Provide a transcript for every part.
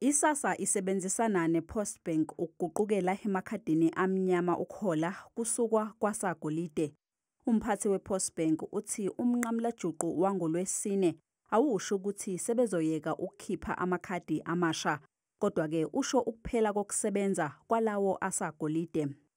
ISASA isebenzisana nePostbank ukuguqukela emakhadini amnyama ukuhola kusukwa kwasagolide. Umphathi wePostbank uthi umnqamulajuqu wangoLwesine awusho ukuthi sebezoyeka ukukhipha amakhadi amasha, kodwa-ke usho ukuphela kokusebenza kwalawo asagolide.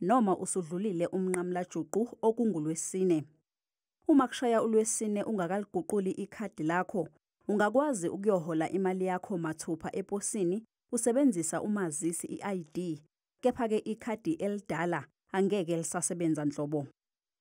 noma usudlulile umnqamlajuqu okungulwesine. Uma kushaya ulwesine ungakaliguquli ikhadi lakho, ungakwazi ukuyohola imali yakho mathupha eposini usebenzisa umazisi i-ID, kepha-ke ikhadi elidala angeke lisasebenza nhlobo.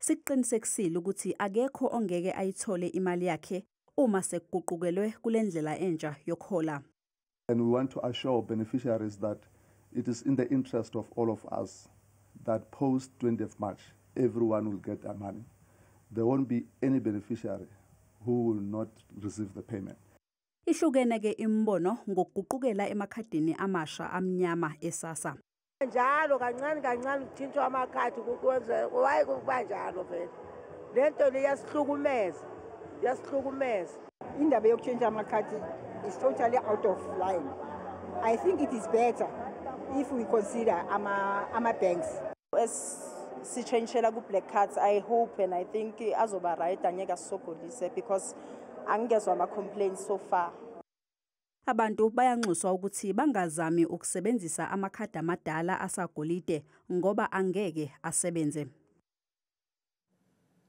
Sikuqinisekisile ukuthi akekho ongeke ayithole imali yakhe uma sekuguqukelwe kule ndlela entsha yokuhola. And we want to assure beneficiaries that it is in the interest of all of us that post 20th March, everyone will get their money. There won't be any beneficiary who will not receive the payment. Ihlukene ke imibono ngokuguqukela emakhadini amasha amnyama esasa. njalo kancane kancane kuthintwa amakhadi waye kuba njalo vele le nto le yasihlukumeza yasihlukumeza indaba yokutshintsha amakhadi is totally out of line i think it is better if we consider ama-banks ama sitshentshela ku-black cards i hope and i think azoba right angeke asisogolise because angingezwa ama-complaints so far Abantu bayanxuswa ukuthi bangazami ukusebenzisa amakhadi amadala asagolide ngoba angeke asebenze.